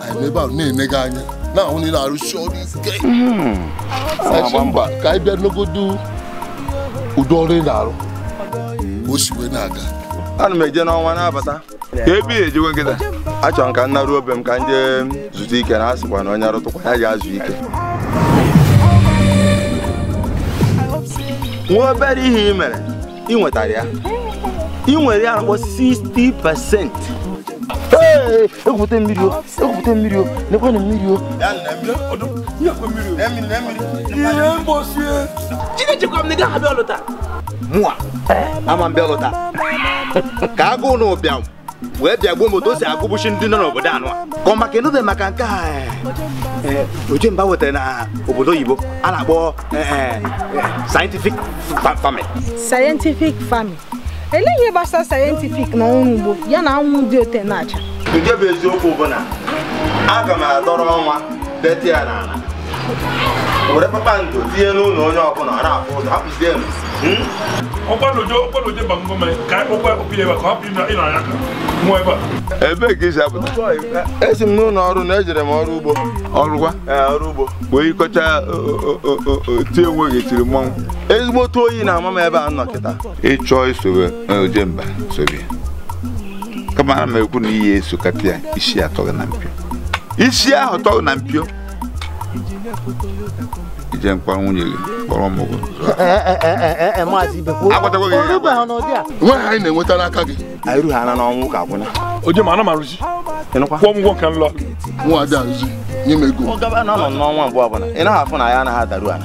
anyị ebe ahụ na-ene gị anya na-ahụ na ị na-arụsi ọrụ ike Asị mba ka anyị bịa negodu ụdị ọrụ ị na-arụ ka o si wee na-aga ana m eje n'ọnwa na-abata ka ebe ya ejewe m kịta achọrọ m ka m naruo be m ka m jee zutụ ike na asịkwa na onye rụtụkwa ya jee zuo ike nwa obere ihe i mere ị nwetara ya ị nwere ya akpọ 60 pasent egwupụta mmiri o egwupụta mmiri o nekwa na mmiri o ihe mgbosi chinechekwa m na ị gaghị abịa ọlụ taa mụa ama m bịa ọlụ taa ka agụụ na ụbịam wee bịa gbuo m otu o si agụbụchi ndị nọ n'obodo anyị ka ọ maka ị nụbe maka nke a ojemba wetara na obodo oyibo a na-akpọ scientific farming scientific farming elee ihe gbasara scientific na ọrụ ugbo ya na anwụ dị otu a na-acha nke bụ eziokwu bụ na aga m adọrọ ọnwa dote ya n'ala were kpakpando tinye n'ụlọ onye ọbụla ọ na-afụ ụzọ ebee ka i si apụta esi m n'ụlọ ọrụ na ejere m ọrụ ugbo ọrụkwa ọrụ ugbo wee yikọcha tie onwe gị tiri mmọnwụ ezigbo otu oyi na-ama m ebe a nọ kịta ị chọọ isobe e, ojemba sobe kama na m ekwu na ị ya-esokata ya isi atọ gị na mpio isi ahụ tọ gị na mpio i jee kpọrọ nwunye gị kpọrọ ụmụ gị o agwatago gị ihe agwa. nwa ihe anyị na-enweta n'aka gị anyị rughị ana n'ọnwụ ka akwụna ojemba ana m arụzi ịnụkwa kwụọ m ụgwọ nke n'ọnwa ada arụzi nye m ego ọ gaba na ọ nọ n'ọnwa abụọ ọbụla ị naghị afụ na ya anaghị adaru ala